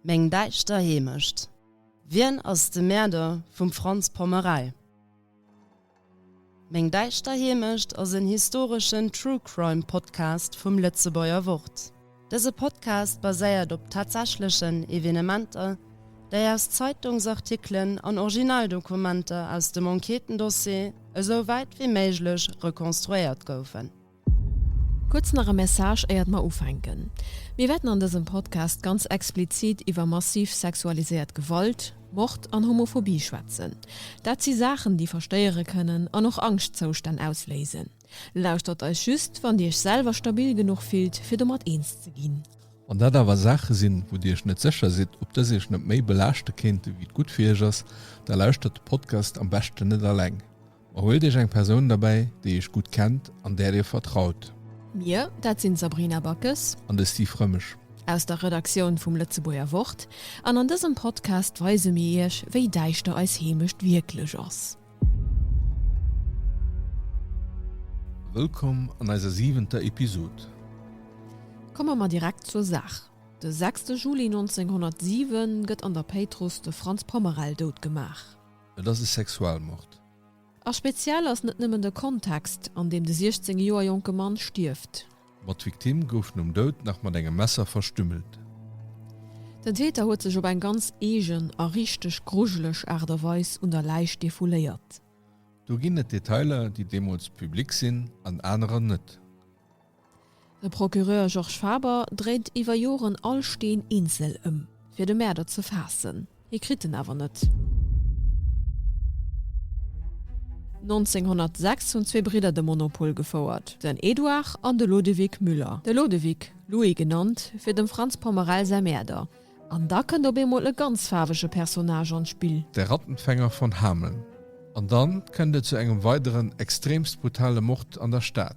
Meng däischter Heemecht. Wien ass de Mäerder vum Franz Pommerell? Meng däischter Heemecht ass en historeschen True Crime Podcast vum Lëtzebuerger Wort. Dëse Podcast baséiert op tatsächlechen Evenementer, déi aus Zeitungsartikelen an Originaldokumenter aus dem Enquêtendossier esou wäit wéi méiglech rekonstruéiert goufen. Kuerz nach e Message éiert mer ufänken. Mir wäerten an dësem Podcast ganz explizit iwwer massiv sexualiséiert Gewalt, Mord an Homophobie schwätzen. Dat si Saachen déi verstéiere kënnen an och Angschtzoustänn ausléisen. Lauschtert eis just wann Dir Iech selwer stabil genuch fillt fir domat eens ze ginn. Wann dat awer Saache sinn, wou Dir Iech net sécher sidd ob dës Iech net méi belaaschte kéinte wéi et gutt fir Iech ass, da lauschtert de Podcast am beschten net alleng. Huelt iech eng Persoun derbäi, déi iech gutt kennt an där dir vertraut. Mir, dat sinn d'Sabrina Backes. An de Steve Rëmesch. Aus der Redaktioun vum Lëtzebuerger Wort. An an dësem Podcast weise mir iech, wéi däischter eis Heemecht wierklech ass. Wëllkomm an eiser siwenter Episod. Komme mer direkt zur Saach. De sechste Juli 1907 gëtt an der Péitruss de Franz Pommerel dout gemaach. Et ass e Sexualmord. A speziell ass net nëmmen de Kontext, an deem de 16 Joer jonke Mann stierft. Ma d'Victime gouf nom Doud nach mat engem Messer verstümmelt. Den Täter huet sech op eng ganz eegen a richteg grujeleg Aart a Weis un der Läich defouléiert. Do ginn et Detailer, déi deemools public sinn an anerer net. De Procureur Georges Faber dréit iwwer Joren all Steen eenzel ëm, fir de Mäerder ze faassen. Hie kritt en awer net. 1906 hunn zwee Bridder de Monopol gefouert, den Edouard an de Lodewig Müller, de Lodewig, Louis genannt fir dem Franz Pommerell säi Mäerder, an da kënnt op eemol e ganz faarwege Personnage an d'Spill. De Rattenfänger von Hameln. An dann kënnt et zu engem weideren extremst brutale Mord an der Stad.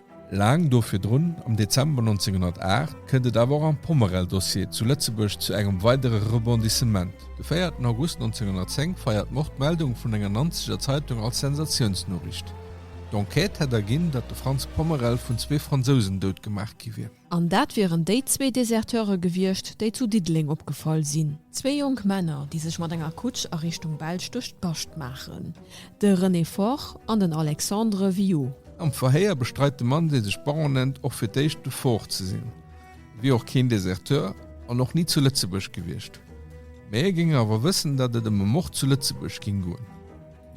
Laang do virdrun, am Dezember 1908, kënnt et awer och am Pommerell-Dossier zu Lëtzebuerg zu engem weidere Rebondissement. De 4 en August 1910 feiert d'Mord d'Meldung vun enger Nanzeger Zeitung als Sensatiounsnoriicht. D'Enquête hätt erginn, datt de Franz Pommerell vun zwee Fransousen doutgemaach gi wier. An dat wieren déi zwee Deserteure gewiescht, déi zu Diddeleng opgefall sinn. Zwee jonk Männer, déi sech mat enger Kutsch a Richtung Belsch duerch d'Bascht maachen. De René Foch an den Alexandre Viau. Am Verhéier bestreit de Mann, dee sech Baron nennt, och fir d'éischt de Foch ze sinn. E wier och keen Deserteur an och ni zu Lëtzebuerg gewiescht. Mee e géing awer wëssen, datt et ëm e Mord zu Lëtzebuerg géing goen.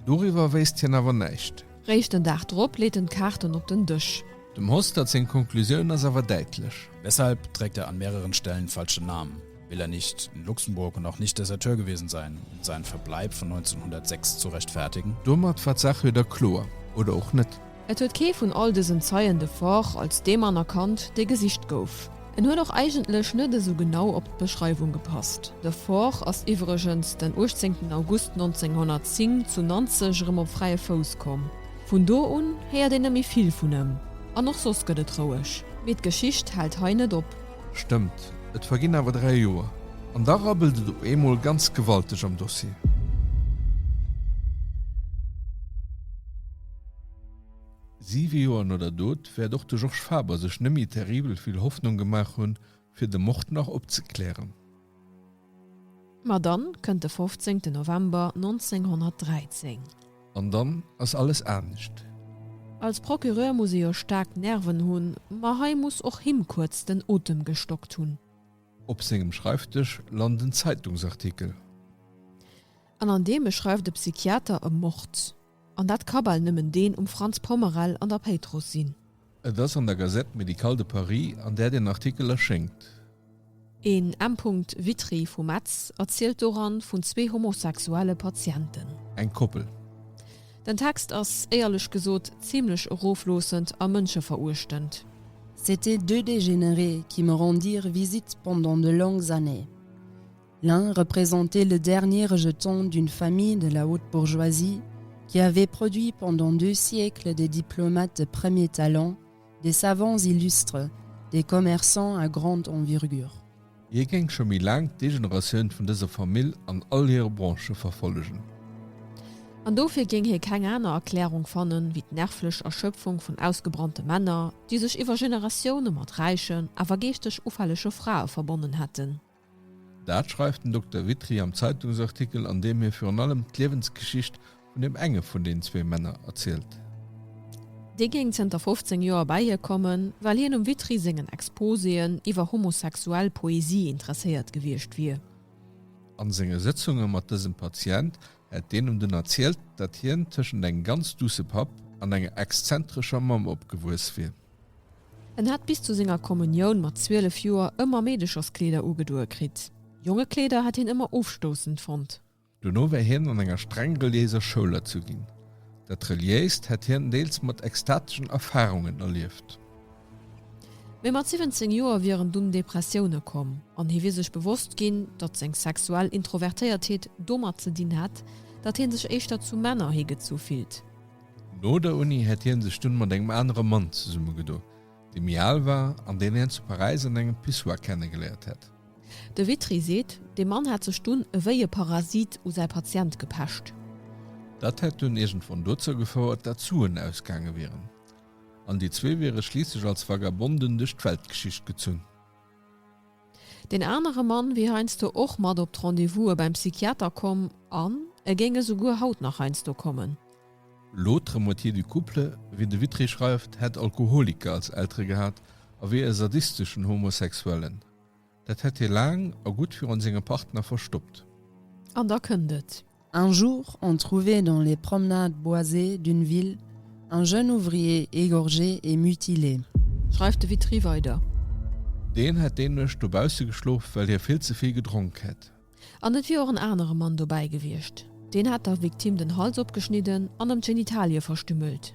Doriwwer wéisst hien awer näischt. Réischt den Dag drop leet en d'Kaarten op den Dësch. Dem Hostert seng Konklusioun ass awer däitlech. Deshalb trägt er an mehreren Stellen falsche Namen, will er nicht in Luxemburg und auch nicht Deserteur gewesen sein, um seinen Verbleib von 1906 zu rechtfertigen. Domat war d'Saach wieder kloer, oder och net. Et huet kee vun all dësen Zeien de Faure als dee Mann erkannt, dee gesicht gouf. En huet och eigentlech net esou genau op d'Beschreiwung gepasst. De Fort ass iwwregens den 18 August 1910 zu Nanzeg erëm op fräie Fouss komm. Vun do un héiert een net méi vill vun ëm, an och soss gëtt et roueg. Mee d'Geschicht hält hei net op. Stëmmt, et verginn awer dräi Joer, an da rabbelt et op eemol ganz gewalteg am Dossier. Siwe Joer no der Dot wäert och de Georges Faber sech nëmmi terribel vill Hoffnung gemaach hunn, fir de Mord nach opzeklären. Ma dann kënnt de 15 November 1913. An dann ass alles anescht. Als Procureur muss e jo staark Nerven hunn, ma hei muss och him kuerz den Otem gestockt hunn. Op sengem Schreifdësch lant en Zeitungsartikel. An an deem e schreift e Psychiater e Mord. An dat ka bal nëmmen deen um Franz Pommerell an der Péitruss sinn. Et ass an der Gazette médicale de Paris, an där deen Artikel erschéngt. En M. Witry vu Metz erzielt doran vun zwee homosexuelle Patienten. Eng Koppel. Den Text ass, éierlech gesot, zimlech erofloossend a mënscheveruechtend. C'étaient deux dégénérés qui me rendirent visite pendant de longues années. L'un représentait le dernier rejeton d'une famille de la haute bourgeoisie qui avait produit pendant deux siècles des diplomates de premier talent, des savants illustres, des commerçants à grande envergure. Hie géing scho méi laang d'Degeneratioun vun dëser Famill an all hire Branchë verfollegen. An dofir géing hie keng aner Erklärung fannen, wéi d'nervlech Erschöpfung vun ausgebrannte Männer, déi sech iwwer Generatioune mat räichen, awer geeschteg ufällege Frae verbonnen hätten. Dat schreift den Dokter Witry am Zeitungsartikel, an deem hie virun allem d'Liewensgeschicht vun deem enge vun den zwee Männer erzielt. Dee géing zënter 15 Joer bäi hie kommen, well hien um Witry sengen Exposéen iwwer homosexuell Poesie interesséiert gewiescht wier. A senge Sëtzunge mat dësem Patient hätt deen em dunn erzielt, datt hien tëschent engem ganz duusse Papp an enger exzentrescher Mamm opgewuess wier. En hat bis zu senger Kommunioun mat 12 Joer ëmmer Meedecherskleeder ugedoe kritt. Jongekleeder hat hien ëmmer ofstoussend fonnt. Dono war hien an enger streng reliéiser Schoul erzu ginn. Dat Reliéist hätt hien deels mat ekstateschen Erfarungen erlieft. Mee mat 17 Joer wieren dunn Depressioune komm an hie wier sech bewosst ginn, datt seng sexuell Introvertéiertheet domat ze dinn hätt, datt hie sech éischter zu Männer higezu fillt. No der Uni hätt hien sech dunn mat engem anere Mann zesummegedo, dee méi al war an deen hien zu Paräis an engem Pissoir kennegeléiert hätt. De Witry seet, de Mann hätt sech dunn ewéi e Parasit u säi Patient gepecht. Dat hätt dunn iergendwann dozou gefouert, dat d'Suen ausgaange wieren an déi zwee wiere schliisslech als Vagabonden duerch d'Weltgeschicht gezunn. Deen anere Mann wier heiansdo och mat op d'Rendez-vouse beim Psychiater komm an e géing esouguer haut nach heiansdo kommen. L'autre moitié du couple, wéi de Witry schreift, hätt Alkoholiker als Eltere gehat a wier e sadisteschen Homosexuellen. Dat hätt hie laang a gutt virun sengem Partner verstoppt. An da kënnt et. Un jour on trouvait dans les promenades boisées d'une ville un jeune ouvrier égorgé et mutilé. Schreift de Witry weider. Deen hätt déi Nuecht dobausse geschlof, well hie vill ze vill gedronk hätt. An et wier och en anere Mann dobäi gewiescht. Deen hätt der Victime den Hals opgeschnidden an ëm d'Genitalie verstümmelt.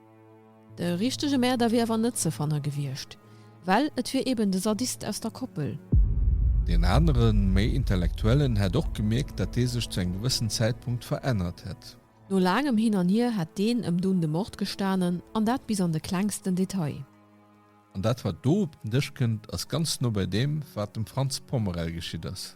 De richtege Mäerder wier awer net ze fanne gewiescht, well et wier eben de Sadist aus der Koppel. Deen anere méi Intellektuellen hätt och gemierkt, datt dee sech zu engem gewëssen Zäitpunkt verännert hätt. No laangem Hin an Hier hätt deen ëm dunn de Mord gestanen, an dat bis an de klengsten Detail. An dat, wat do op den Dësch kënnt, ass ganz no bei deem, wat dem Franz Pommerel geschitt ass.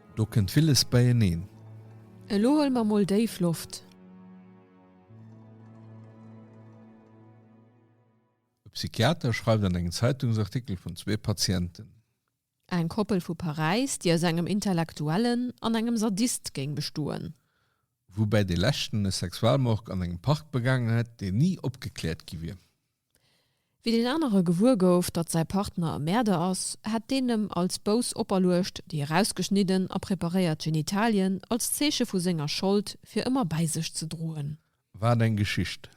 Do kënnt villes beieneen. Elo huele mer mol déif Loft. E Psychiater schreift an engem Zeitungsartikel vun zwee Patienten. Eng Koppel vu Paräis, déi aus engem Intellektuellen an engem Sadist géing bestoen. Woubäi dee leschten e Sexualmord an engem Park begaangen hätt, deen ni opgekläert gi wier. Wéi deen anere gewuer gouf, datt säi Partner e Mäerder ass, hätt deen em als Bous operluecht, déi erausgeschnidden a preparéiert Genitalien als Zeeche vu senger Schold fir ëmmer bäi sech ze droen. Wat eng Geschicht!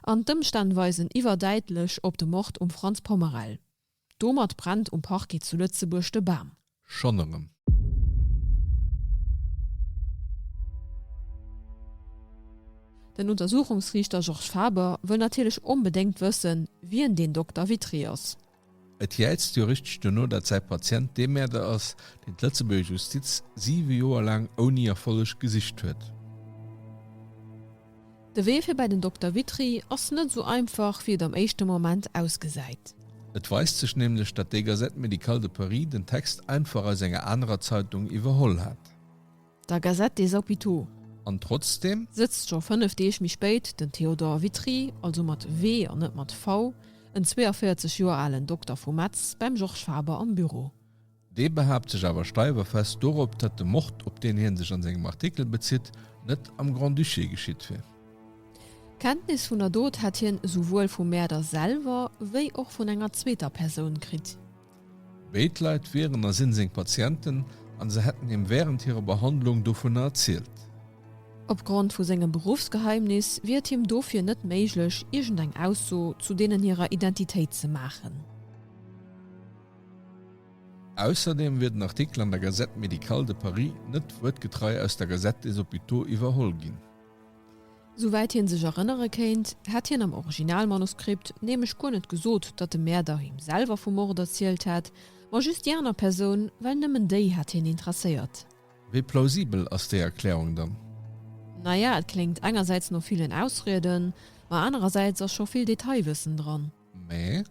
An d'Ëmstänn weisen iwwerdäitlech op de Mord um Franz Pommerell. Domat brennt um Parquet zu Lëtzebuerg de Bam. Schonn erëm. Den Untersuchungsriichter Georges Faber wëll natierlech onbedéngt wëssen, wien deen Dokter Witry ass. Et jäizt jo richteg duerno, datt säi Patient dee Mäerder ass, deen d'lëtzebuerger Justiz siwe Joer laang ouni Erfolleg gesicht huet. De Wee fir bäi den Dokter Witry ass net esou einfach, wéi et am éischte Moment ausgesäit. Et weist sech nämlech, datt déi Gazette médicale de Paris den Text einfach aus enger anerer Zeitung iwwerholl hat. Der Gazette des Hôpitaux. An trotzdeem. Sëtzt scho fënnef Deeg méi spéit den Théodore Witry, also mat W an net mat V, en 42 Joer alen Dokter vu Metz, beim Georges Faber am Büro. Dee behaapt sech awer steiwerfest dorop, datt de Mord, op deen hie sech an sengem Artikel bezitt, net am Grand-Duché geschitt wier. Kenntnis vun der Dot hätt hien esouwuel vum Mäerder selwer, wéi och vun enger zweeter Persoun kritt. Béid Leit wieren a sinn seng Patienten an se hätten him wärend hirer Behandlung dovunner erzielt. Opgrond vu sengem Beruffsgeheimnis wier et him dofir net méiglech, iergendeng Ausso zu deenen hirer Identitéit ze maachen. Ausserdeem wier den Artikel an der Gazette médicale de Paris net wuertgetrei aus der Gazette des hôpitaux iwwerholl ginn. Souwäit hie sech erënnere kéint, hätt hien am Originalmanuskript nämlech guer net gesot, datt de Mäerder him selwer vum Mord erzielt hätt, ma just déi aner Persoun, well nëmmen déi hätt hien interesséiert. Wéi plausibel ass déi Erklärung dann? Naja, et kléngt engersäits no villen Ausrieden, ma anerersäits ass scho vill Detailwëssen dran. Mä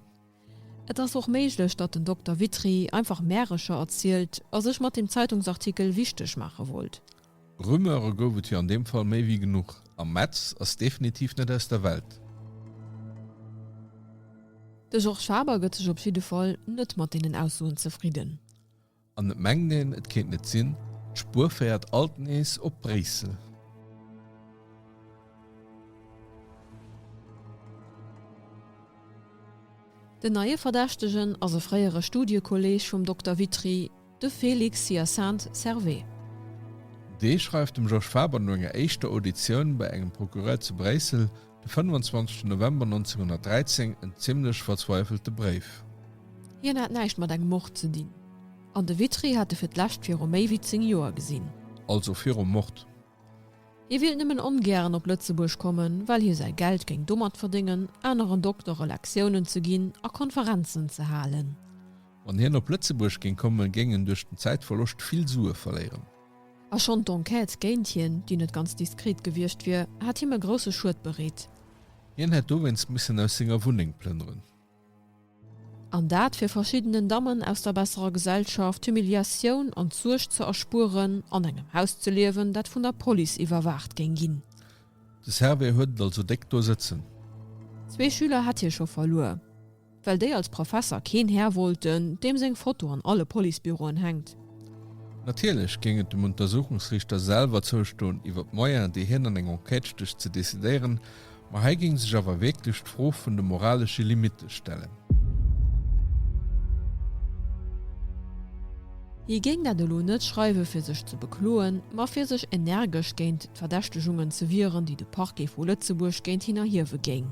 Et ass och méiglech, datt den Dokter Witry einfach Märecher erzielt a sech mat deem Zeitungsartikel wichteg maache wollt. Rumeure gouf et jo an deem Fall méi wéi genuch, a Metz ass definitiv net aus der Welt. De Georges Faber gëtt sech op jidde Fall net mat deenen Aussoen zefridden. An et mengt een, et kéint net sinn, d'Spuer féiert alt nees op Bréissel. Den neie Verdächtegen ass e fréiere Studiekolleeg vum Dokter Witry, de Félix Hyacinthe Servais. Dee schreift dem Georges Faber no enger éischter Auditioun bei engem Procureur zu Bréissel De 25 November 1913, en zimlech verzweifelte Bréif. Hien hat näischt mat engem Mord ze dinn, an de Witry hat e fir d'lescht viru méi wéi zéng Joer gesinn. Also virum Mord. Hie willt nëmmen ongären op Lëtzebuerg kommen, well hie säi Geld géing domat verdéngen, aneren Doktere Lektiounen ze ginn a Konferenzen ze halen. Wann hien op Lëtzebuerg géing kommen, géing en duerch den Zäitverloscht vill Sue verléieren. A schonn d'Enquête géint hien, déi net ganz diskret gewiescht wier, hat him e grousse Schued bereet. Hien hätt dowéinst missen aus senger Wunneng plënneren. An dat, fir verschiddenen Dammen aus der besserer Gesellschaft d'Humiliatioun an d'Suerg ze erspueren, an engem Haus ze liewen, dat vun der Police iwwerwaacht géing ginn. De Servais huet et also déck do sëtzen. Zwee Schüler hätt hie scho verluer. Well déi als Professer keen Här wollten, deem seng Foto an alle Policebüroen hänkt. Natierlech géing et dem Untersuchungsriichter selwer zoustoen, iwwer d'Moyens, déi hien an eng Enquête stécht, ze decidéieren, ma hei géing sech awer wierklech d'Fro vun de moralesche Limitte stellen. Hie géing dat elo net schreiwen, fir sech ze bekloen, ma fir sech energesch géint d'Verdächtegungen ze wieren, déi de Parquet vu Lëtzebuerg géint hien erhiewe géing.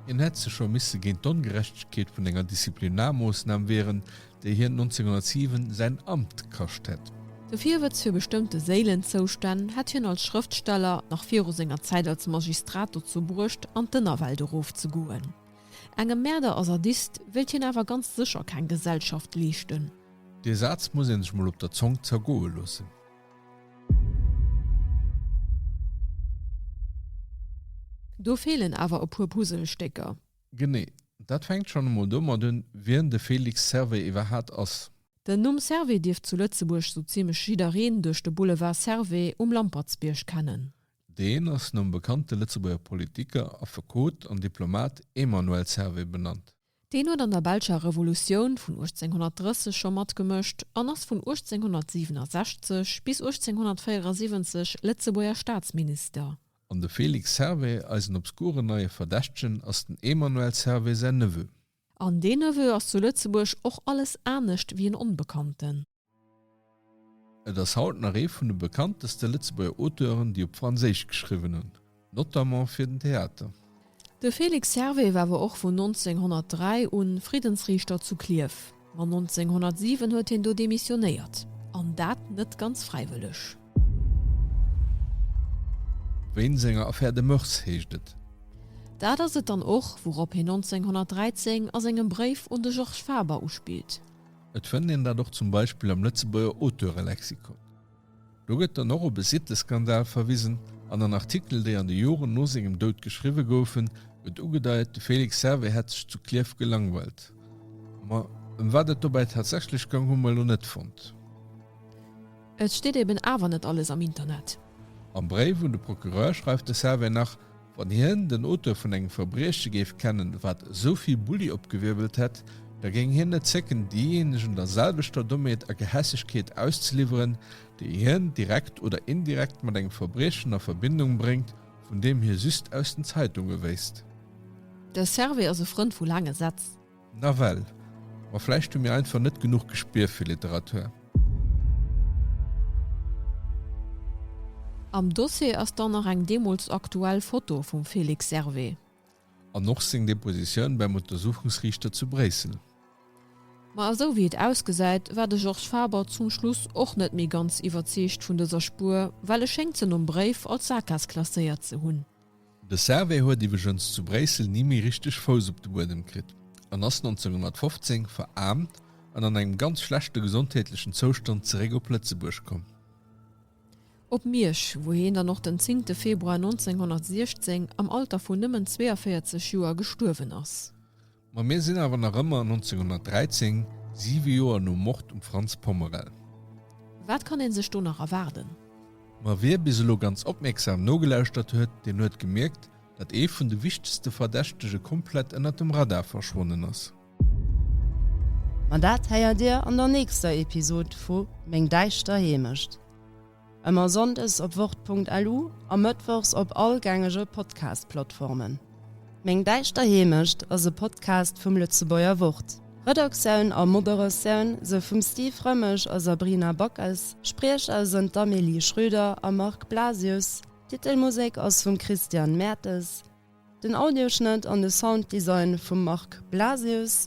Hien hätt sech scho misse géint d'Ongerechtegkeet vun enger Disziplinarmoossnam wieren, déi hien 1907 säin Amt kascht hätt. De Virwëtz fir bestëmmte Séilenzoustänn hätt hien als Schrëftsteller nach viru senger Zäit als Magistrat dozou bruecht, an d'Ënnerwelt erofzegoen. Engem Mäerder a Sadist wéilt hien awer ganz sécher keng Gesellschaft leeschten. Dee Saz muss ee sech mol op der Zong zergoe loossen. Do feelen awer e puer Puzzlestécker. Genee. Dat fänkt schonn emol domat un, wien de Félix Servais iwwerhaat ass. Den Numm Servais dierft zu Lëtzebuerg sou zimlech jiddereen duerch de Boulevard Servais um Lampertsbierg kennen. Deen ass nom bekannte Lëtzebuerger Politiker, Affekot an Diplomat Emmanuel Servais benannt. Deen huet an der Belscher Revolutioun vun 1830 scho matgemëscht an ass vun 1867 bis 1874 Lëtzebuerger Staatsminister. An de Félix Servais, eisen obskuren neie Verdächtegen, ass den Emmanuel Servais säin Neveu. An deen Neveu ass zu Lëtzebuerg och alles anescht wéi en Onbekannten. Et ass haut nach ee vun de bekannteste Lëtzebuerger Auteuren, déi op Franséisch geschriwwen hunn, notamment fir den Theater. De Félix Hervé war awer och vun 1903 u Friddensriichter zu Klierf, ma 1907 huet hien do demissionéiert, an dat net ganz fräiwëlleg. Wéint senger Affaire de moeurs heescht et. Dat ass et dann och, wourop hien 1913 a sengem Bréif un de Georges Faber uspillt. Et fënnt een dat och zum Beispill am Lëtzebuerger Auteurelexikon. Do gëtt dann och op e Sitteskandal verwisen an an Artikel, déi an de Joren no sengem Doud geschriwwe goufen, gëtt ugedeit, de Félix Servet hätt sech zu Klierf gelangweilt. Ma ëm wat et dobäi tatsächlech goung, hu mer elo net fonnt. Et steet eben awer net alles am Internet. Am Bréif un de Procureur schreift de Servet nach, Wann hien den Auteur vun engem Verbrieche géif kennen, wat esou vill Bulli opgewirbelt hätt, da géing hien net zécken, deejéinegen der selwechter Dommheet a Gehässegkeet auszeliwweren, déi hien direkt oder indirekt mat engem Verbriechen a Verbindung bréngt, vun deem hie just aus den Zeitunge wéisst. De Servais ass e Frënd vu laange Sätz. Nawell, ma vläicht hu mir einfach net genuch Gespier fir Literatur. Am Dossier ass dann nach eng deemools aktuell Foto vum Félix Servet. An och seng Depositioun beim Untersuchungsriichter zu Bréissel. Ma esou wéi et ausgesäit, war de Georges Faber zum Schluss och net méi ganz iwwerzeegt vun dëser Spuer, well e schéngt se nom Bréif als Sakgaass klasséiert ze hunn. De Servais huet iwwegens zu Bréissel ni méi richteg Fouss op de Buedem kritt an ass 1915 veraarmt an an engem ganz schlechte gesondheetlechen Zoustand zeréck op Lëtzebuerg komm. Op Miersch, wou hien dann och den 10 Februar 1916 am Alter vun nëmmen 42 Joer gestuerwen ass. Ma mir sinn awer nach ëmmer 1913, siwe Joer nom Mord um Franz Pommerel. Wat kann ee sech do nach erwaarden? Ma wie bis elo ganz opmierksam nogelauschtert huet, deen huet gemierkt, datt ee vun de wichtegste Verdächtege komplett ënnert dem Radar verschwonnen ass. Ma dat héiert Dir an der nächster Episod vu Meng däischter Heemecht. Ëmmer Sonndes op wort.lu a Mëttwochs op all gängege Podcast-Plattformen. Meng däischter Heemecht ass e Podcast vum Lëtzebuerger Wort. Redaktioun a Moderatioun sou vum Steve Rëmmesch a Sabrina Backes, Spriecher sënn d'Amélie Schrüder a Marc Blasius, d'Titelmusek ass vum Christian Mertes, den Audioschnëtt an de Sounddesign vum Marc Blasius.